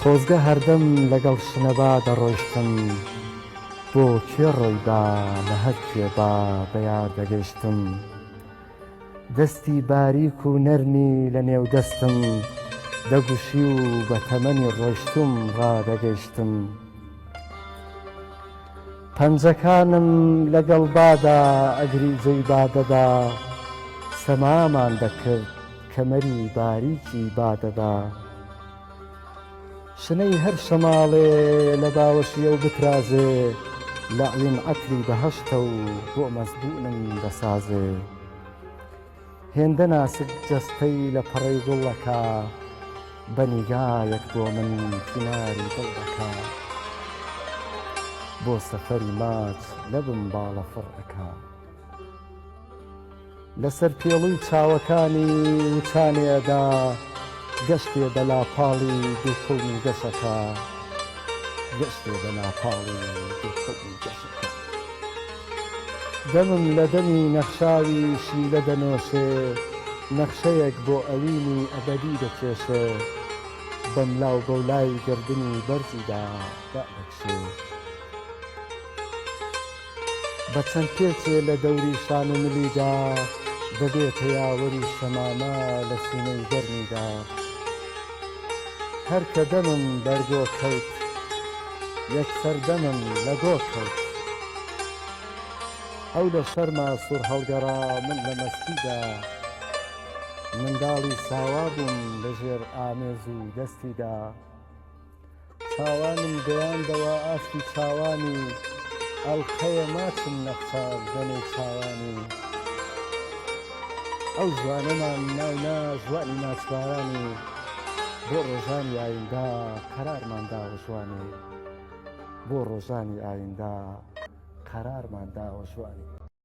خۆزگە هەردەم لەگەڵ شنەبا دەڕۆیشتم بۆ کوێ ڕۆی با لە هەر کوێ با بە یار دەگەشتم دەستی باریک و نەرمی لە نێو دەستم دەگوشی و بە تەمەنی ڕۆیشتوم ڕا دەگەشتم پەنجەکانم لەگەڵ بادا ئەگری جێی با دەدا سەمامان دەکرد کەمەری باریکی با دەدا. شنەی هەر شەماڵێ لە باوەشی ئەو بترازێ لەعلیم عەتری بەهەشتە و بۆ مەزبوونم دەسازێ هێندە ناسک جەستەی لە پەڕەی گوڵ ئەکا بە نیگایەک بۆ من تیناری دڵ ئەکا بۆ سەفەری ماچ لەبم باڵەفڕ ئەکا. لەسەر پێڵوی چاوەکانی وچانی ئەدا گەشتێ بە لاپاڵی دووکڵمی گەشەکە گەشتێ بە لاپاڵی دووکڵمی گەشەکە دەمم لە دەمی نەخشاوی شیلە دەنۆشێ نەخشەیەک بۆ ئەوینی ئەبەدی دەکێشێ بەملاو بەولای گەردنی بەرزیدا دادەکشێ. بە چەند پێچێ لە دەوری شان و ملیدا دەبێ پەیاوەری شەمامە لە سینەی گەرمیدا هەر کە دەمم بەر گۆ کەوت یەکسەر دەمم لە گۆ کەوت ئەو لە شەرما سوور هەڵگەڕا من لە مەستیدا منداڵی ساوا بووم لە ژێر ئامێز و دەستیدا. چاوانم گەیاندەوە ئاستی چاوانی ئەڵقەیە ماچم نەخشا گەنەی چاوانی ئەو ژوانەمان ناونا ژوانی ناسوارانی بۆ ڕۆژانی ئاییندا قەرارمان داوە ژوانی بۆ ڕۆژانی ئاییندا قەرارمان داوە ژوانی